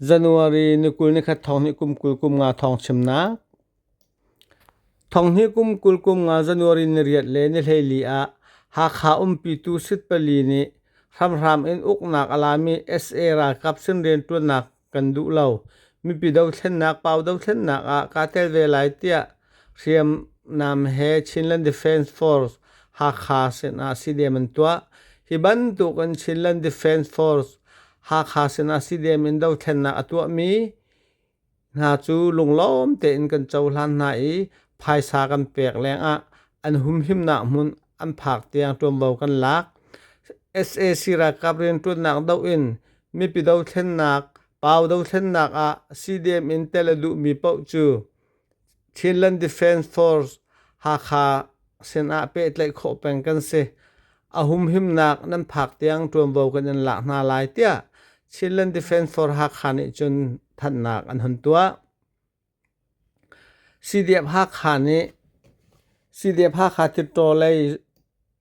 January ni kul ni khat thong hnih kum kul kum nga thawng chimnak. Thong hnih kum kul kum nga January ni riat le ni hleili ah Hakha umpitu sit pali nih hramhram in uknak a lami SA ralkap sin rianṭuannak kan duh lo. Mipi dothlennak, pau dothlennak ah kaa tel ve lai tiah Hriamnam he Chinland Defence Force Hakha sinah CDM an tuah. Hi bantuk in Chinland Defence Force Hakha sinah CDM in dothlennak a tuahmi hna cu lunglawm tein kan cohlan hna i phaisa kan pek lengah an humhimnak hmun an phak tiang ṭuanvo kan lak. sac ralkap rianṭuannak doh in mipi dothlennak pau dothlennak ah CDM in tel a duhmi paoh cu Chinland Defence Force Hakha sinah pehtlaih khawh peng kan si. A humhimnak nan phak tiang ṭuanvo kan in lak hna lai tiah Chinland Defence Force Hakha nih cun thanhnak an hun tuah. CDF Hakha nih CDF Hakha Tirtaw lei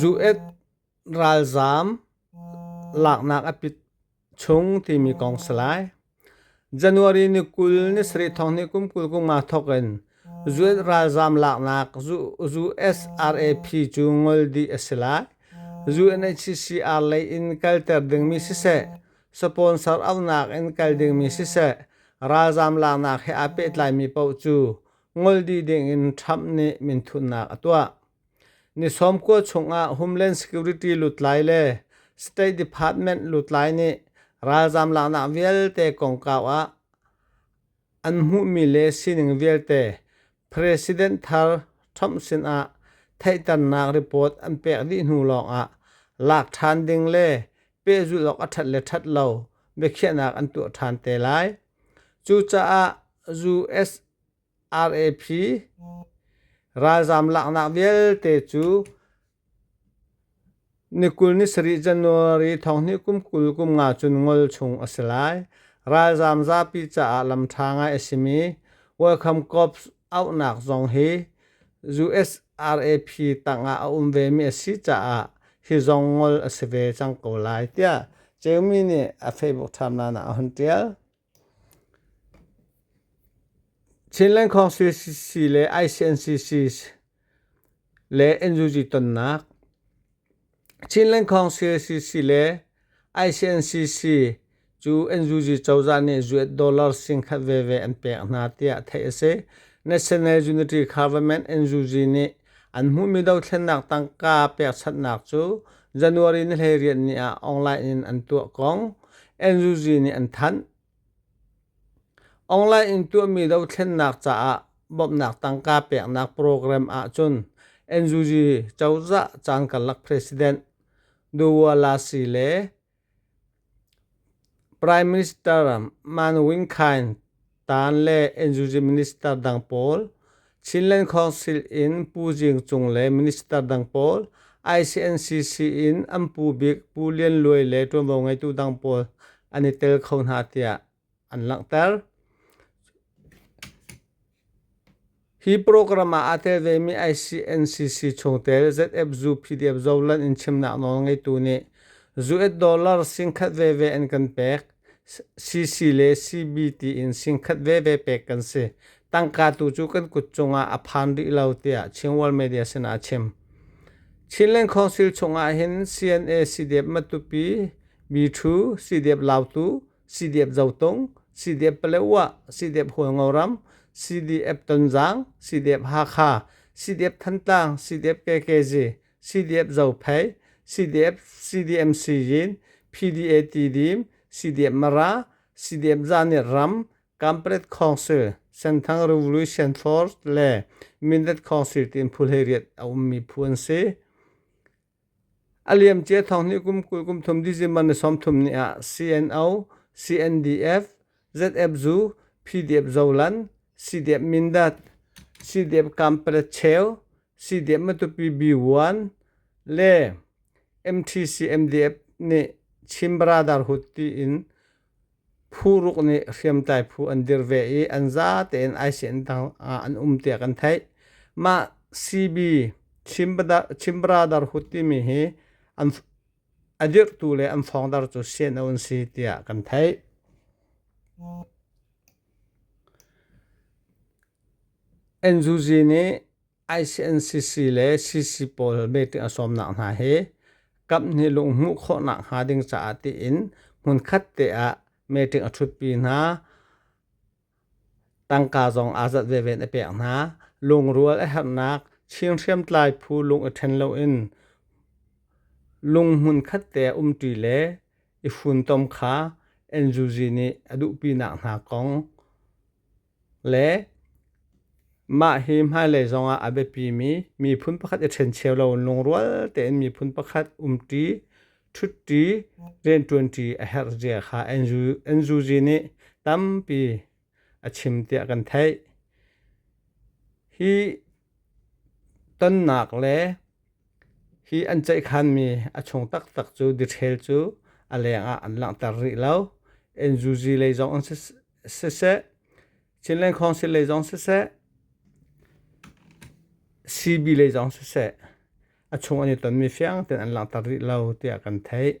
Zu-et ralzaam laknak a pit chung timi kong si lai. January ni kul ni sarih thong ni kum kul kum nga thok in zu-et ralzaam laknak zu-SRAP cu ngol dih a si lai. Zu-NHCCR lei in kalter dingmi siseh, Sponsor aunak in kal dingmi siseh, ralzaam laknak he aa pehtlaimi paoh cu ngol dih dingin Trump nih minthutnak a tuah. Ni sawm kua chungah Homeland Security lutlai le State Department lutlai nih ralzaam laknak vialte kongkau ah an hmuhmi le sining vialte President thar Trump sinah theihternak report an pek dih hnu lawngah lak ṭhan ding le pehzulh awk a ṭhat le ṭhat lo biakhiahnak an tuah ṭhan te lai. Cucaah USRAP ralzaam laknak vialte cu Ni kul ni sarih January thonghnih kum kul kum nga cun ngol chung a si lai. Ralzaam zapi caah lam ṭha ngai a simi Welcome Corps auhnak zong hi USRAP tangah a um vemi a si caah hi zong ngol a si ve cang ko lai tiah Jamie nih a Facebook timeline ah a hun ṭial. Chinland Council cc le ICNCC le NUG tonnak Chinland Council cc le ICNCC cu NUG cozah nih US dollar singkhat veve an pek hna tiah theih a si. National Unity Government NUG nih An hmuhmi dothlennak tangka pekchanhnak cu January ni hleiriat ni ah online in an tuah kong NUG nih an thanh. Online in tuahmi dothlennak caah bawmhnak tangka peknak program ahcun NUG cozah caan karlak president Duwa Lasi le Prime Minister Man Win Khain taan le Enzuji minister dang pawl, Chinland Council in Pu Jing Cung le minister dang pawl, ICNCC in an pu bik Pu Lian Luai le ṭuanvo ngeitu dang pawl an i tel kho hna tiah an langhter. Hi program ah aa tel vemi ICNCC chungtel ZFZU PDF Zoland in chimnak nawl ngeitu nih US dollar singkhat veve an kan pek. CC le CBT in singkhat veve pek kan si. Tangka tu cu kan kut cungah a phan rih lo tiah Chin World Media sinah a chim. Chinland Council chungah hin CNA CDF Matupi, B2, CDF Lautu, CDF Zotung, CDF Paletwa, CDF Hualngoram, CDF Tonzang, CDF Hakha, CDF Thantlang, CDF KKZ, CDF Zophei, CDF CDMC Yin, PDA Tidim, CDF Mara, CDF Zanit Ram, Kampret Council, Senthang Revolution Force le Mindat Council tiin phul hei riat a ummi phu an si. A liamcia thawng nih kum kul kum thum December ni sawmthum ni ah CNO, CNDF, ZF-Zu, PDF-Zoland, CDF-Mindat, CDF-Kampalacheu, CDF-Matupi-B1 le MTC-MDF nih Chin Baradar Hut tiin Phu ruk nih hriamtlai phu an dir ve i an za tein aisen tangah an um tiah kan theih. Mah CB Chimbradar Hut timi hi an a dirhtu le an thawngdar cu CNO an si tiah kan theih. NUG nih ICNCC le CC pawl meeting a sawmnak hna hi kaphnih lung hmuh khawhnak hnga ding caah tiin hmunkhat te ah meeting a thutpi hna. Tangka zong aa zat veven a pek hna. Lungrual a herhnak Chin hriamtlai phu lung i ṭhen loin lung hmun khat te umṭi le i funtom kha NUG nih a duhpinak hna kong le mah hi hmailei zongah a biapimi miphun pakhat i ṭhencheu loin lungrual tein miphun pakhat umṭi, ṭhutṭi, rianṭuanṭi a herhzia kha an zuzi nih tampi a chim tiah kan theih. Hi tonnak le hi an ceihkhanmi a chung taktak cu detail cu a lengah an langhter rih lo. An zuzi lei zong an si siseh Chinland Council lei zong siseh CB lei zong siseh a chung an i tonmi fiang tein an langhter rih lo tiah kan theih.